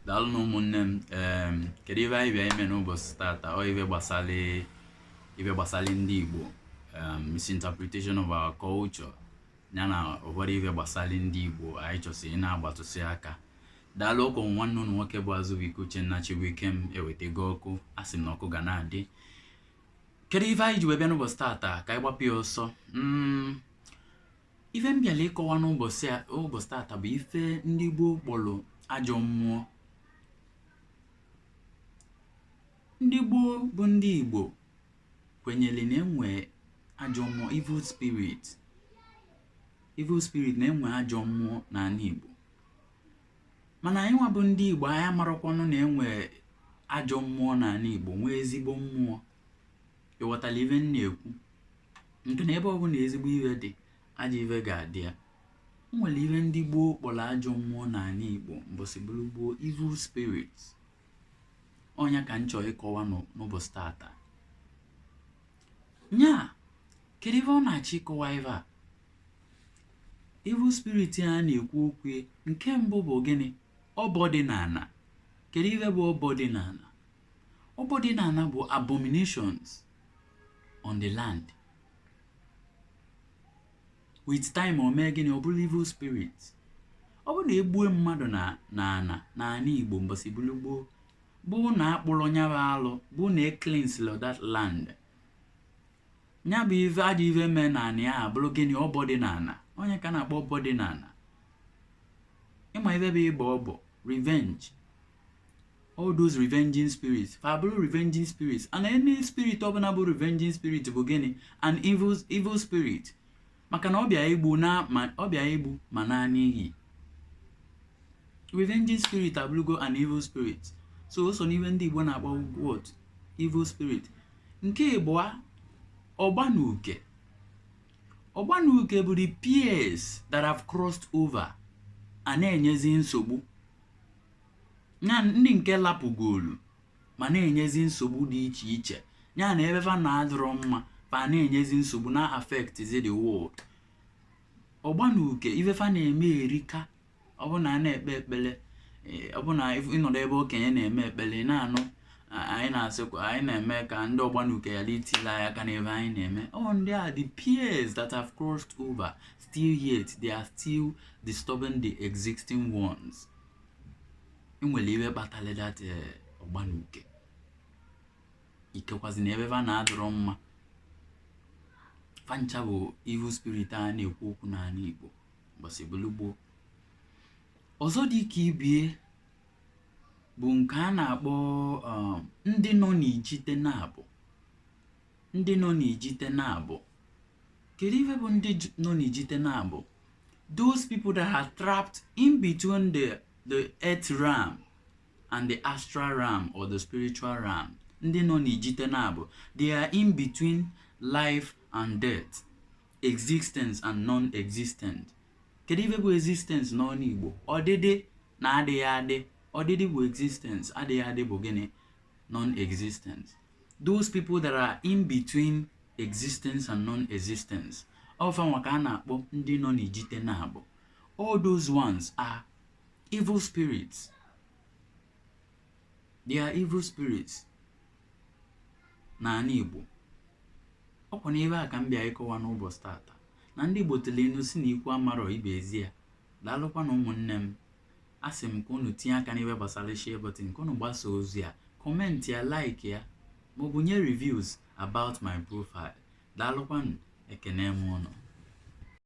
daalụ nụ ụmụnne m em, kedu ive anyị bịa ime n'ụbọchị tata ọ ive gbasara ive gbasara ndị igbo em, misinterpretation of our culture ya na ụfọdụ ive gbasara ndị igbo anyị chọsị ị na-agbatụsị aka daalụ ọkwa nwanne ụnụ nwoke bụ azụbụike uchenna chibuikem ewetego ọkụ a sị m na ọkụ ga na-adị kedu ife anyị ji wee bịa n'ụbọchị tata ka anyị gbapụ ya ọsọ Mm, ife m bịara ịkọwa n'ụbọchị a- ụbọchị tata bụ ife ndị gboo kpọrọ ajọ mmụọ ndị gboo bụ ndị igbo kwenyere na enwe ajọ mmụọ evil spirit evil spirit na-enwe ajọ mmụọ n'ana igbo mana anyị nwa bụ ndị igbo anyị amarakwanụ na enwe ajọ mmụọ n'ana igbo nwee ezigbo mmụọ ị ghọtara ife m na-ekwu nke na ebe ọbụla ezigbo ife dị ajọ ife ga-adị ya o nwere ife ndị gboo kpọrọ ajọ mmụọ n'ana igbo mbọsị bụrụ gboo evil spirit ọ nya ka m chọrọ ịkọwa n'ụ- n'ụbọchị tata nya kedu ife ọ na-achọ ịkọwa ife a evil spirit a na-ekwu okwu ya, nke mbụ bụ gịnị ọbọ dị n'ana kedu ife bụ ọbọ dị n'ana Ọbọ dị na ana bụ abominations on the land. With time o mee gịnị ọ bụrụ evil spirit. Ọ bụrụ na egbue mmadụ na na ana na ana Igbo mbọsị bụrụ gboo bụ na akpụrọ nya bụ alụ bụ na ecleanserọ that land nya bụ ajọ ive mee na ana ya abụrụ gịnị ọbọ dị na ana ọ nya ka a na-akpọ ọbọ dị na ana ịma ive bụ ịbọ ọbọ revenge all those revenging spirits fa bụrụ revenging spirits and any spirit ọbụla bụ revenging spirit bụ gịnị an evil evil spirit maka na ọ bịa igbu na ma ọ bịa igbu ma na n'ihi revenging spirit abụrụgo an evil spirit so o so n'ive ndị Igbo na-akpọ what evil spirit nke ịbụa ọgbanuke ọgbanuke bụ the peers that have crossed over a na-enyezi nsogbu ya ndị nke lapụgolu ma na-enyezi nsogbu dị iche iche ya na ebe fa na-adịrọ mma fa na-enyezi nsogbu na-affectzi the world ọgbanuke ife fa na-eme erika ọ bụ na a na-ekpe ekpele eh, ọ bụ na if- ịnọdụ ebe okenye na-eme ekpele ị na-anụ a- anyị na-asị kwa- anyị na-eme ka ndị ọgbanuke ghara itile anyị aka n'ebe anyị na-eme ọ ndị a the peers that have crossed over still yet they are still disturbing the existing ones enwere ife kpatara that eh, ọgba na uke ikekwazi na ebe fa na-adịrọ mma fa ncha bụ evil spirit a na-ekwu okwu n'ala Igbo mbọsị gboo ọzọ dị ka ibie bụ nke a na-akpọ um, ndị nọ n'ijite naabọ ndị nọ n'ijite naabọ kedu ife bụ ndị nọ n'ijite naabọ those people that are trapped in between the, the earth realm and the astral realm or the spiritual realm ndị nọ n'ijite naabọ they are in between life and death existence and non-existent kedu ife bụ existence n'ọnụ Igbo ọdịdị na adịghị adị ọdịdị bụ existence adịghị adị bụ gịnị non-existence those people that are in between existence and non-existence ọ bụ fa nwa ka a na-akpọ ndị nọ n'ijite naabọ all those ones are evil spirits they are evil spirits n'ala Igbo ọkwa n'ebe a ka m bịa ịkọwa n'ụbọsị tata na ndị Igbo tụlụ inu sị na ikwu amarọ ibe ezi ya daalụkwanụ ụmụnne m a sị m ka unu tinye aka n'ife gbasara share button ka unu gbasa ozi a comment ya like ya ma ọ bụ nye reviews about my profile daalụkwanụ ekene m unu